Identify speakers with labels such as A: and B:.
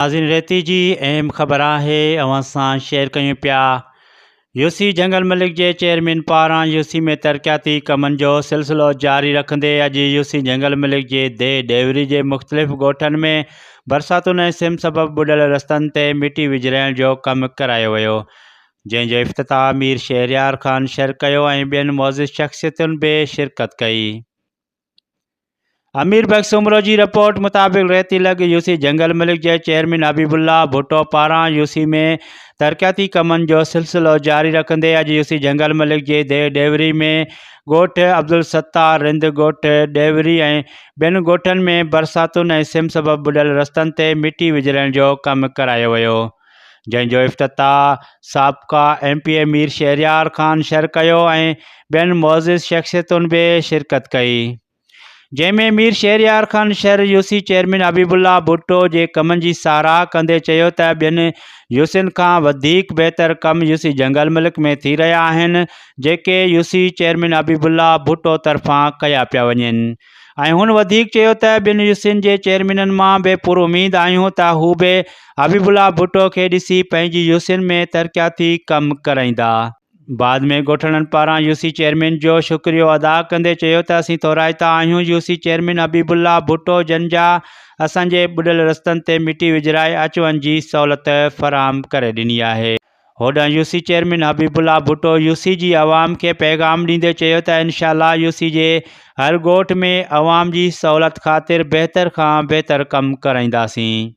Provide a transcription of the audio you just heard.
A: ناظرين ريتي جي اهم خبر آهي اوهان سان شيئر ڪيون پيا يوسي جنگل ملڪ جي چيئرمين پاران يوسي ۾ ترقياتي ڪمن جو سلسلو جاري رکندي اڄ يوسي جنگل ملڪ جي دي ڊيوري جي مختلف ڳوٺن ۾ برساتن ۽ سم سبب ٻڏل رستن تي مٽي وجھرائڻ جو ڪم ڪرايو ويو جنهن جو افتتاح مير شهريار خان شر ڪيو ۽ ٻين معزز شخصيتن به شرڪت ڪئي. امير بخش سومرو جي رپورٽ مطابق ريتي لڳ يوسي جنگل ملڪ جي چيئرمين حبيب الله ڀٽو پاران يوسي ۾ ترقياتي ڪمن جو سلسلو جاري رکندي اڄ يوسي جنگل ملڪ جي دي ڏيوري ۾ ڳوٺ عبدالستار رند ڳوٺ ڏيوري ۽ ٻين ڳوٺن ۾ برساتن ۽ سم سبب ٻڏل رستن تي مٽي وجھرائڻ جو ڪم ڪرايو ويو جنهن جو افتتاح سابقه M P A Mir Shahryar Khan Shar ڪيو ۽ ٻين معزز شخصيتن به شرڪت ڪئي جنهن ۾ Mir Shahryar Khan Shar UC chairman Habibullah Bhutto جي ڪمن جي ساراهه ڪندي چيو ته ٻين يوسين کان وڌيڪ بهتر ڪم يوسي جنگل ملڪ ۾ ٿي رهيا آهن جيڪي UC chairman Habibullah Bhutto طرفان ڪيا پيا وڃن ۽ هن وڌيڪ چيو ته ٻن يوسين جي چيئرمينن مان به پراميد آهيون ته هو به حبيب الله ڀٽو کي ڏسي پنهنجي يوسين ۾ ترقياتي ڪم ڪرائيندا. بعد ۾ ڳوٺاڻن پاران يوسي چيئرمين جو شڪريو ادا ڪندي چيو ته اسين ٿورائتا آهيون UC chairman Habibullah Bhutto جن جا اسان جي ٻڏل رستن تي مٽي وجهرائي اچ وڃ جي سهولت فراهم ڪري ڏني آهي. هوڏانهن UC chairman Habibullah Bhutto UC جي عوام کي پيغام ڏيندي چيو ته انشاء الله يوسي جي هر ڳوٺ ۾ عوام جي سهولت خاطر بهتر کان بهتر ڪم ڪرائينداسين.